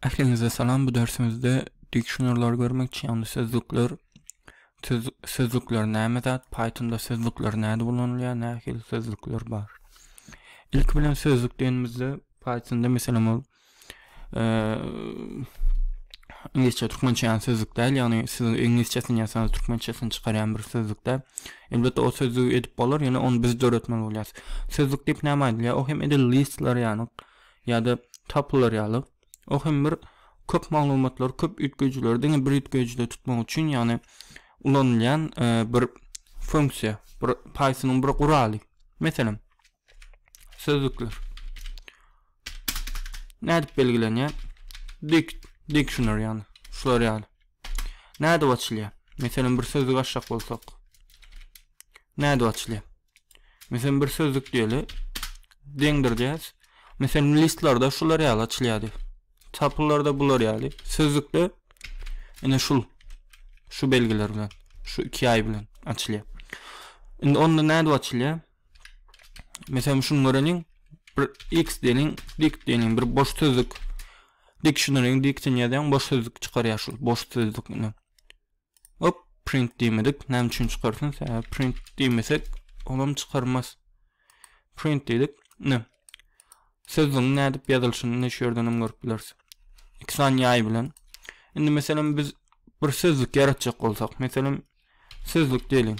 Ähliňize salam bu dersimizde dikşonerleri görmekçi ýagny sözlükler söz, sözlükler näme zat Pythonda sözlükler näde ulanylýar nähili sözlükler bar ilki bilen sözlük diýenimizde Pythonda meselem ol e, inglizçe türkmençe ýan sözlük däl ýagny siz inglizçesini ýasaňyz türkmençesini çykarýan bir sözlük däl elbetde o sözlügi edip bolar ýöne onu biz döretmeli bolýarys sözlük diýip näme aýdylýar o hem edil listler ýany ýa-da tapylar ýaly, o hem bir köp maglumatlary, köp üýtgeýjileri diňe bir üýtgeýjide tutmak üçin, ýagny ulanylýan bir funksiýa, bir Python-yň bir guraly. Meselem, sözlükler. Nädip belgilenýär? Dict, dictionary ýagny, şular ýaly. Nädip açylýar? Meselem, bir sözlük açjak bolsak. Nädip açylýar? Meselem bir sözlük diýeli. Deňdirýäs. Meselem listlarda şular ýaly açylýardy. Tapylarda bular ýaly. Sözlükde ine şul şu belgiler bilen, şu iki ýaý bilen açylýar. Indi onda nädip açylýar? Meselem şuny göreniň, bir x diýeliň, dik diýeliň, bir boş sözlük dictionary-ň diktin ýazýaň, boş sözlük çykarýar şul boş sözlük bilen. Hop print diýmedik. Näme üçin çykarsyn? Sebäbi print diýmesek, olam çykarmaz. Print diýdik. Ne? Sözlügiň nädip ýazylyşyny ne şu ýerden hem görüp bileris. Iki sany ýaý bilen. Indi meselem biz bir sözlük ýaratjak bolsak, meselem sözlük diýeliň.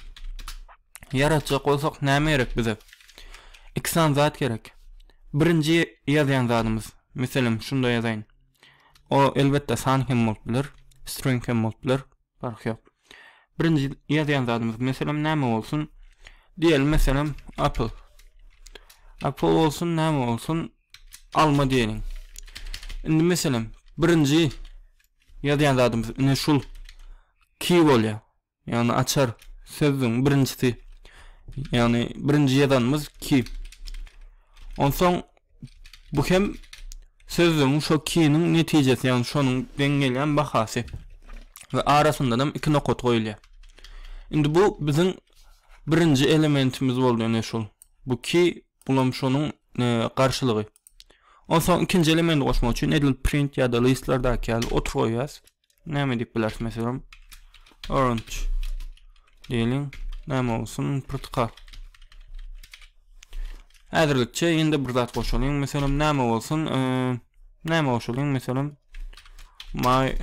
Ýaratjak bolsak näme gerek bize? İki sany zat gerek. Birinji ýazýan zadymyz, meselem şunda ýazaýyn. O elbetde san hem bolup biler, string hem bolup biler, parhy ýok. Birinji ýazýan zadymyz meselem näme bolsun? Diýeli meselem apple. Apple bolsun näme bolsun? Alma diýeliň. Indi meselem birinji ýazýan zadymyz ine şul key bolýar. Ýagny açar sözüň birinjisi ýagny birinji ýazanymyz ki. Onsoň bu hem sözüň şo kiniň netijesi ýagny şonuň deň gelýän bahasy we arasyndan hem iki nokat goýulýar. Indi bu biziň birinji elementimiz boldy ene şol. Bu ki bulam şonuň e, garşylygy. Onsoň ikinji elementi goşmak üçin edil print ýa-da listlardaki ýaly otur goýýas. Näme diýip bileris meselem? Orange. Diýeliň, näme bolsun? Pyrtyka. Häzirlikçe indi bir zat goşalyň. Meselem, näme bolsun? Näme goşalyň? Meselem, my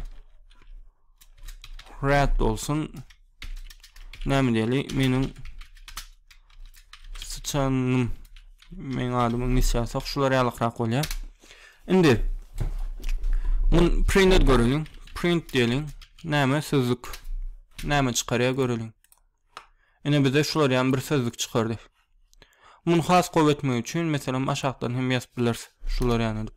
red bolsun. Näme diýeli? Meniň sıçanym meň adymy iňlisçe ýazsak şular ýalykrak bolýar. Indi mun print et göreliň. Print diýeliň. Näme sözlük? Näme çykarýar göreliň. Ine bize şular ýan bir sözlük çykardy. Muny has gowy etmek üçin meselem aşakdan hem ýazyp bileris. Şular ýan edip.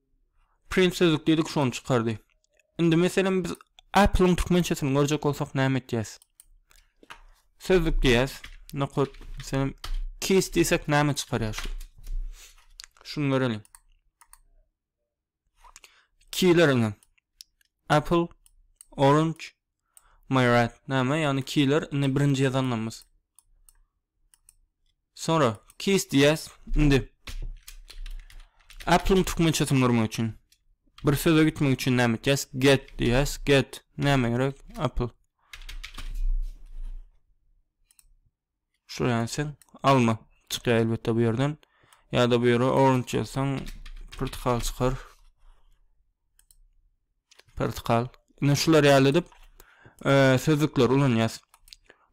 Print sözlük diýdik şony çykardy. Indi meselem biz Apple-yň türkmençesini görjek bolsak näme etýäs? Sözlük diýýäs. Nokat meselem keys diýsek näme çykarýar şu? Şuny göreliň. Keyleriň Apple, Orange, My rat näme ýagny killer indi birinji ýazanymyz. Sonra keys diýäs indi. Apple-yň türkmençesini görmek üçin. Bir söze gitmek üçin näme etýäs? Get diýäs. Get näme gerek? Apple. Şular ýazsaň alma çykýar elbetde bu ýerden. Ýa-da bu ýere orange ýazsaň portakal çykar. Portakal. Ine şular ýaly edip e, sözlükler ulanýas.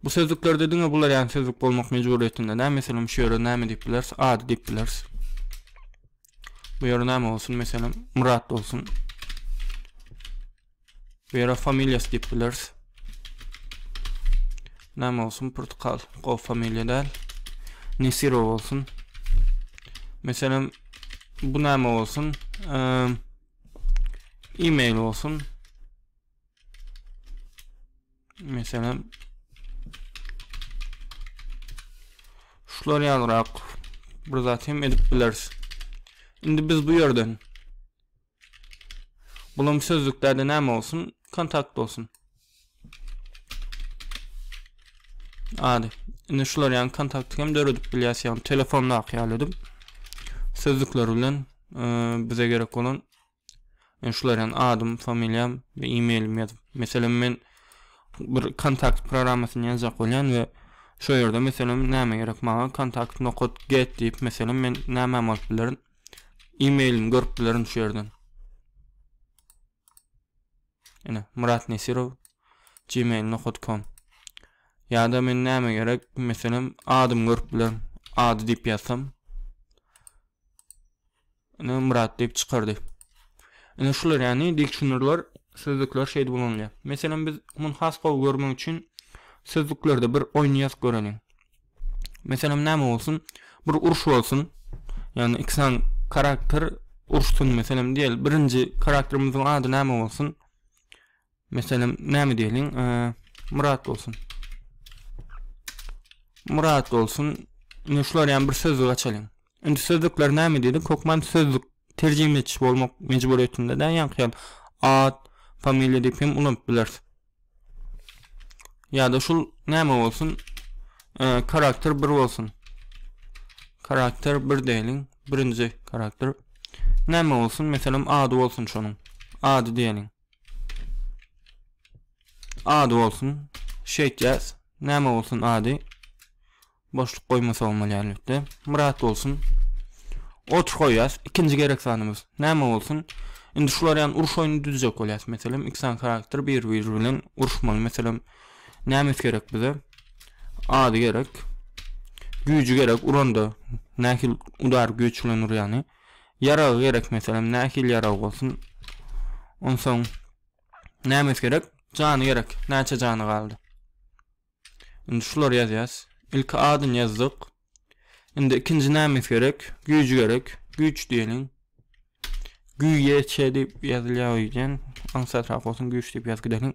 Bu sözlüklerde diňe bular ýaly sözlük bolmak mejburyýetinde. Näme meselem şu ýere näme diýip bileris? Ady diýip bileris. Bu ýere näme bolsun? Meselem Murat bolsun. Bu ýere familiýasy diýip bileris. Näme bolsun? Portugal. Gowy familiýa däl. Nesirow bolsun. Meselem, bu näme bolsun? E-mail bolsun. Meselem, şular ýalyrak bir zat hem edip bileris. Indi biz bu ýerden Bulam sözlüklerde näme bolsun? Kontakt bolsun. Ady. Indi şular ýaly kontakty hem döredip bilýäs, ýagny telefondaky ýaly edip. Sözlükler bilen e, bize gerek bolan yani şular ýaly adym, familiýam we e-mailim ýazyp. Meselem men bir kontakt programmasyny ýazjak bolýan we şu ýerde meselem näme gerek maňa kontakt nokat get diýip meselem men näme alyp bilerin? E-mailini görüp bilerin şu yerden. Ene, Murat Nesirov gmail.com Ya da men näme gerek? Meselem, adymy görüp bilerin. Ady diýip ýazsam. Ene, Murat diýip çykardy. Ene şular ýany dil düşünürler, sözlükler şeýdip ulanylýar. Meselem, biz muny has gowy görmek üçin sözlüklerde bir oýun ýazyp göreliň. Meselem näme bolsun, bir uruş bolsun, ýagny iki sany karakter uruşsun, meselem diýeli, birinji karakterimiziň ady näme bolsun? Meselem näme diýeliň, eee, Myrat bolsun. Myrat bolsun, indi şular ýaly bir sözlük açalyň. Indi sözlükler näme diýdik? Hökman sözlük terjime ediş bolmak mejburyýetinde däl, ýaňky ýaly at, familiýa diýip hem ulanyp bileris. ya da şul näme bolsun ee, karakter 1 bolsun karakter 1 diýeliň birinji karakter näme bolsun meselem ady bolsun şonuň ady diýeliň ady bolsun şeýtýäs näme bolsun ady Boşluk goýmasaň bolýar elbetde. Myrat bolsun. Otur goýýas. Ikinji gerek zanymyz. Näme bolsun? Indi şular ýaly uruş oýny düzjek bolýas. Meselem, iksan karakter bir bir bilen uruşmaly. Meselem, nämes gerek bize? Ady gerek. Güýji gerek. Uranda nähil udar güýç bilen urýany. Ýaragy gerek meselem, nähil ýarag bolsun. Onsoň nämes gerek? Jany gerek. Näçe jany galdy? Indi şulary ýazýas. Ilki adyny ýazdyk. Indi ikinji nämiz gerek? Güýji gerek. Güýç diýeliň. Güýç diýip ýazylýar öýden. Aňsatrak bolsun güýç diýip ýazyp gidelim.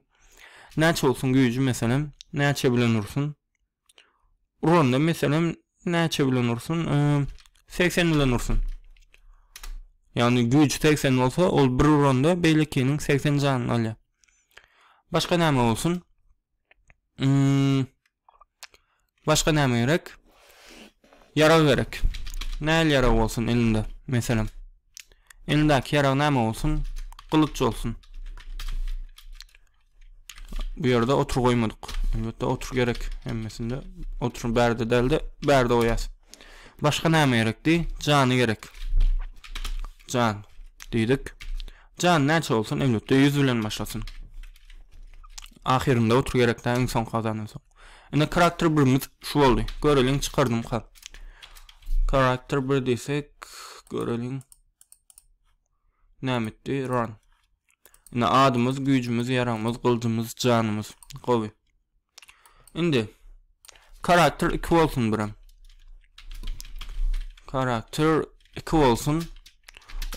Näçe bolsun güýji meselem? Näçe bilen ursun? Uranda meselem näçe bilen ursun? 80 bilen ursun. Ýagny güýç 80 bolsa, ol bir uranda beýlekiniň 80 janyny alýar. Başga näme bolsun? Hmm. Başga näme gerek? Ýarag gerek. Näl ýarag bolsun elinde? Meselem. Elindäki ýarag näme bolsun? Gylyç bolsun. Bu ýerde otur goýmadyk. Elbetde otur gerek hemmesinde. Otur bärde dälde, bärde goýas. Başga näme gerekdi? Jany gerek. Jan diýdik. Jan näçe bolsun öňütde ýüz bilen başlasyn. Ahyrynda otur gerek dä iň soňky azadan soň. Ine karakter birimiz şu boldy. Göreliň çykardymka. Karakter bir diýsek göreliň. Nämitdi run. Ine adymyz, güýjümiz, ýaragymyz, gyljymyz, janymyz. Gowy. Indi karakter 2 bolsun birem. Karakter 2 bolsun.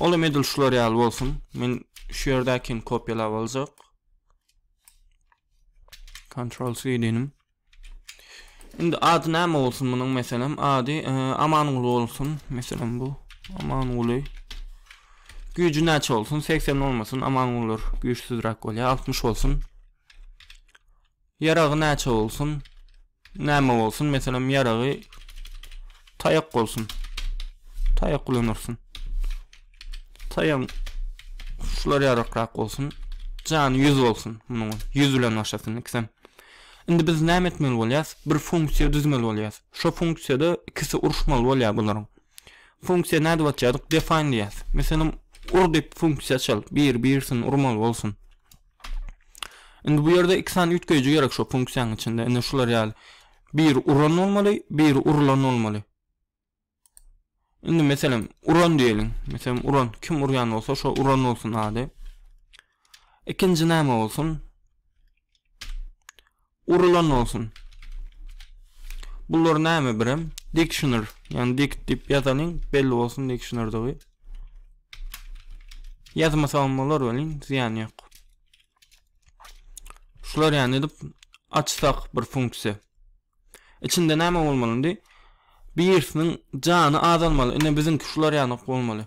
Ol hem edil şular ýaly bolsun. Men şu ýerdäkini kopýalap aljak. Ctrl C diýdim. Indi ady näme bolsun munuň meselem? Ady e, Amanguly bolsun. Meselem bu Amanguly. Güýji näçe bolsun? 80 bolmasyn. Amangulylar güýçsüzräk bolýar. 60 bolsun. Ýaragy näçe bolsun? Näme bolsun? Meselem, ýaragy taýak bolsun. Taýak ulanyrsyn. Taýagyň şular ýarakrak bolsun. Jany 100 bolsun. Munuň 100 bilen başlasyn ikisem. Indi biz näme etmeli bolýas? Bir funksiýa düzmeli bolýas. Şo funksiýada ikisi uruşmaly bolýar bularyň. Funksiýa nädip atýardyk? Define diýýäs. Meselem, ur diýip funksiýa çal. Bir, birsin urmaly bolsun. Indi bu ýerde iki sany üýtgeýji gerek şo funksiýanyň içinde. Indi şular ýaly. Biri uran bolmaly, biri urulan bolmaly. Indi meselem uran diýeliň. Meselem uran kim urýan bolsa şo uran bolsun ady. Ikinji näme bolsun? Urulan bolsun. Bular näme birem? Dictionary, ýagny dict diýip ýazalyň, belli bolsun dictionarydygy. Ýazmasagam bolar welin, zyýany ýok. Şular ýany edip açsak bir funksiýa. Içinde näme bolmaly indi? Birisiniň jany azalmaly. Ine biziňki şular ýany bolmaly.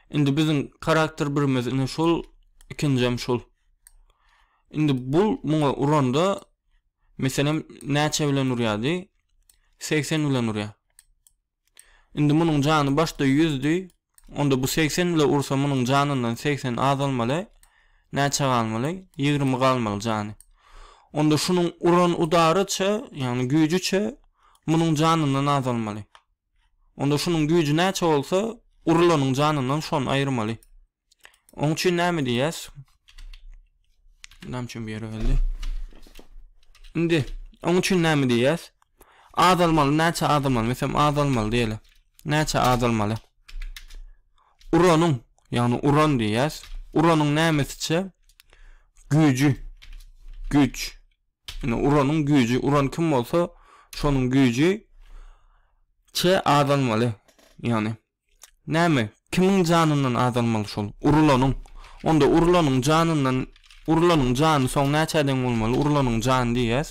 Indi biziň karakter birimiz indi şol ikinjem şol. Indi bu muňa uranda meselem näçe bilen urýardy? 80 bilen urýar. Indi munuň jany başda 100 di, Onda bu segsen bile ursa munuň janyndan segsen azalmaly, näçe galmaly? Ýigrimi galmaly jany. Onda şunuň uran udaryça, ýagny güýjüçe munuň janyndan azalmaly. Onda şunuň güýji näçe bolsa, urulanyň janyndan şony aýyrmaly. Oň üçin näme diýýäs? Näme üçin bir ýere geldi? Indi oň üçin näme diýýäs? Azalmaly, näçe azalmaly? Meselem, azalmaly diýeli. Näçe azalmaly? Uranyň, ýagny uran diýýäs. Uranyň nämesiçe? Güýji. Güýç. Indi uranyň güýji, uran kim bolsa, şonuň güýji çe azalmaly. Ýagny Näme, kimiň janyndan azalmaly şol? Urulanyň. Onda urulanyň janyndan, urulanyň jany soň näçä deň bolmaly? Urulanyň jany diýýäs.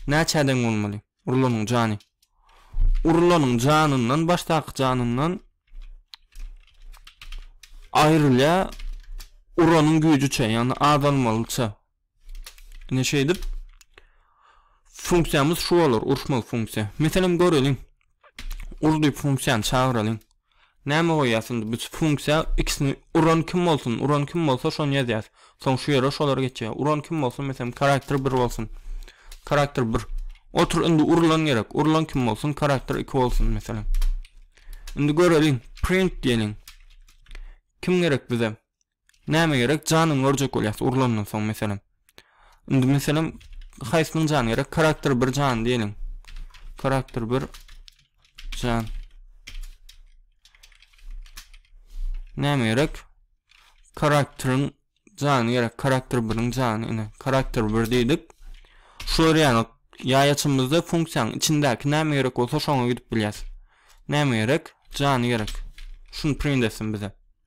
Näçä deň bolmaly? Urulanyň jany. Urulanyň janyndan, başdaky janyndan aýrylýar uranyň güýjüçe, ýagny azalmalyça. Ine şeýdip funksiýamyz şu bolar, uruşmak funksiýa. Meselem göreliň. Ur diýip funksiýany çagyralyň. Näme goýýas indi biz funksiýa ikisini uran kim bolsun, uran kim bolsa şony ýazýas. Soň şu ýere şolar geçýär. Uran kim bolsun, meselem karakter 1 bolsun. Karakter 1. Otur indi urulan gerek. Urulan kim bolsun, karakter 2 bolsun meselem. Indi göreliň, print diýeliň. Kim gerek bize? Näme gerek janyny görjek bolýas urlandan soň meselem. Indi meselem haýsynyň jany gerek karakter bir jan diýeliň. Karakter bir jan. Näme gerek? Karakteriň jany gerek karakter biriň jany ine karakter bir diýdik. Şu ýaly ýaýaçymyzda funksiýanyň içindäki näme gerek bolsa şoňa gidip bilýäs. Näme gerek? Jany gerek. Şuny print etsin bize.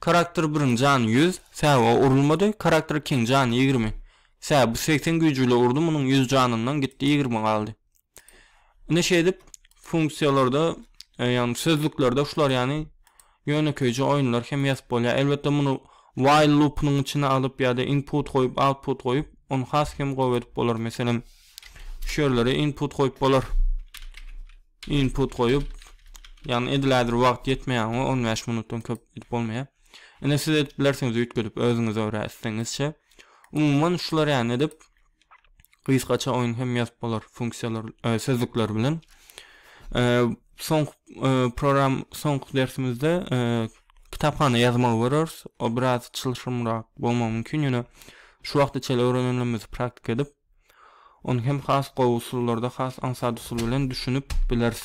Karakter birin jany ýüz sä o urulmady karakter ikin jany ýigrimi sä bu segsen güýjüle urdy munuň ýüz janyndan gitdi ýigrimi galdy ine şeýdip funksiýalarda e, ýagny sözlüklerde şular ýany ýönekeýje oýunlar hem ýazyp bolýar elbetde muny while loopynyň içine alyp ýa-da input goýup output goýup ony has hem gowy edip bolar meselem şu ýerlere input goýup bolar Input goýup, ýagny edilädir wagt ýetmeýär oňa, on bäş minutdan köp edip bolmaýar. Ine siz edip bilersiňiz üýtgedip özüňiz örä isleňizçe. Umuman şular ýaly edip gysgaça oýun hem ýazyp bolar funksiýalar e, sözlükler bilen. E, soň e, program soňky dersimizde e, kitaphana ýazmagy görüris. O biraz çylşyrymrak bolmagy mümkin, ýöne şu wagtda çel öwrenenimizi praktik edip Ony hem has gowy usullarda has aňsat usul bilen düşünip bileris.